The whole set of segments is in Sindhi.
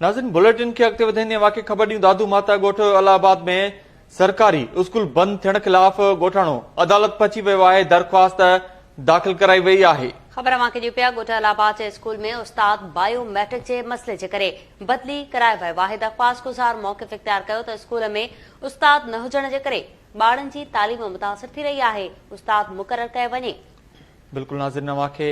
ناظرين بليٽن کي اڳتي وڌائيندي ۽ واقعي خبر ڏيون دادو ماتا ڳوٺ الله آباد ۾ سرڪاري اسڪول بند ٿيڻ خلاف ڳوٺاڻو عدالت پھچي ويو آھي درخواست داخل ڪرائي وئي آھي. خبر اوھان کي ڏيون پيا ڳوٺ الله آباد جي اسڪول ۾ استاد بايو ميٽرڪ جي مسئلي جي ڪري بدلي ڪرائي ويو آھي درخواست گذار موقف اختيار ڪيو ته اسڪول ۾ استاد نه ھجڻ جي ڪري ٻارن جي تعليم متاثر ٿي رھي آھي استاد مقرر ڪيو وڃي بلڪل ناظرين اوهان کي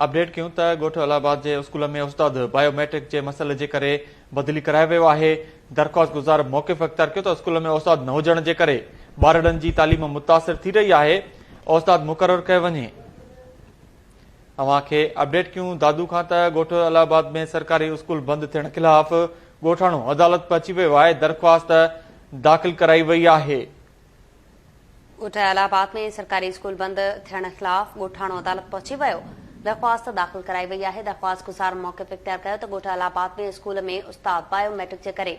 اپڊيٽ ڪيون ته ڳوٺ الله آباد جي اسڪول ۾ استاد بايو ميٽرڪ جي مسئلي جي ڪري بدلي ڪرايو ويو آهي درخواست گذار موقف اختيار ڪيو ته اسڪول ۾ استاد نه هجڻ جي ڪري ٻارڙن جي تعليم متاثر ٿي رهي آهي استاد مقرر ڪيو وڃي اوهان کي اپڊيٽ ڪيون دادو کان ته ڳوٺ الله آباد ۾ سرڪاري اسڪول بند ٿيڻ خلاف ڳوٺاڻو عدالت پهچي ويو آهي درخواست داخل ڪرائي وئي آهي ڳوٺ الھ آباد ۾ سرڪاري اسڪول بند ٿيڻ خلاف ڳوٺاڻو عدالت پهچي ويو، درخواست داخل ڪرائي وئي آهي، درخواست گذار موقف اختيار ڪيو ته ڳوٺ الھ آباد ۾ اسڪول ۾ استاد بايو ميٽرڪ جي ڪري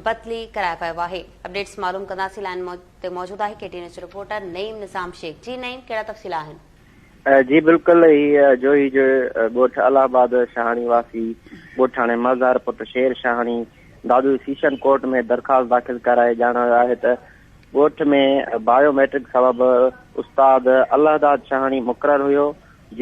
بدلي ڪرايو ويو آهي، اپڊيٽس معلوم ڪنداسين، لائين تي موجود آهي K T news reporter Naeem Nizam Shaikh, جي نعيم ڪهڙا تفصيل آهن؟ جي بلڪل هي جوهي جو ڳوٺ الله آباد شاهاڻي واسي ڳوٺاڻي مزار پٽ شير شاهاڻي دادو سيشن ڪورٽ ۾ درخواست داخل ڪرائي ڄاڻايو آهي ته ڳوٺ ۾ بايو ميٽرڪ سبب استاد الهداد شاهاڻي مقرر هيو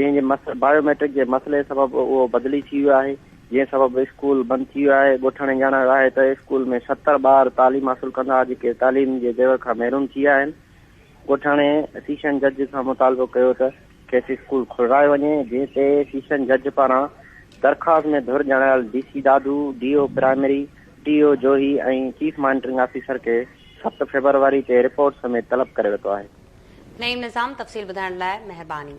جنهن جي بايو ميٽرڪ جي مسئلي سبب اهو بدلي ٿي ويو آهي جنهن سبب اسڪول بند ٿي ويو آهي ڳوٺاڻي ڄاڻايو آهي ته اسڪول ۾ ستر ٻار تعليم حاصل ڪندا جيڪي تعليم جي زيور کان محروم ٿي ويا آهن ڳوٺاڻي سيشن جج کان مطالبو ڪيو ته کيس اسڪول کلرايو وڃي، جنهن تي سيشن جج پاران درخواست ۾ ڌر ڄاڻايل D C Dadu, D O primary, T O Johi ۽ chief monitoring officer کي ست فيبروري تي رپورٽ سميت طلب ڪري ورتو آهي. نعيم نظام تفصيل ٻڌائڻ لاء مهرباني.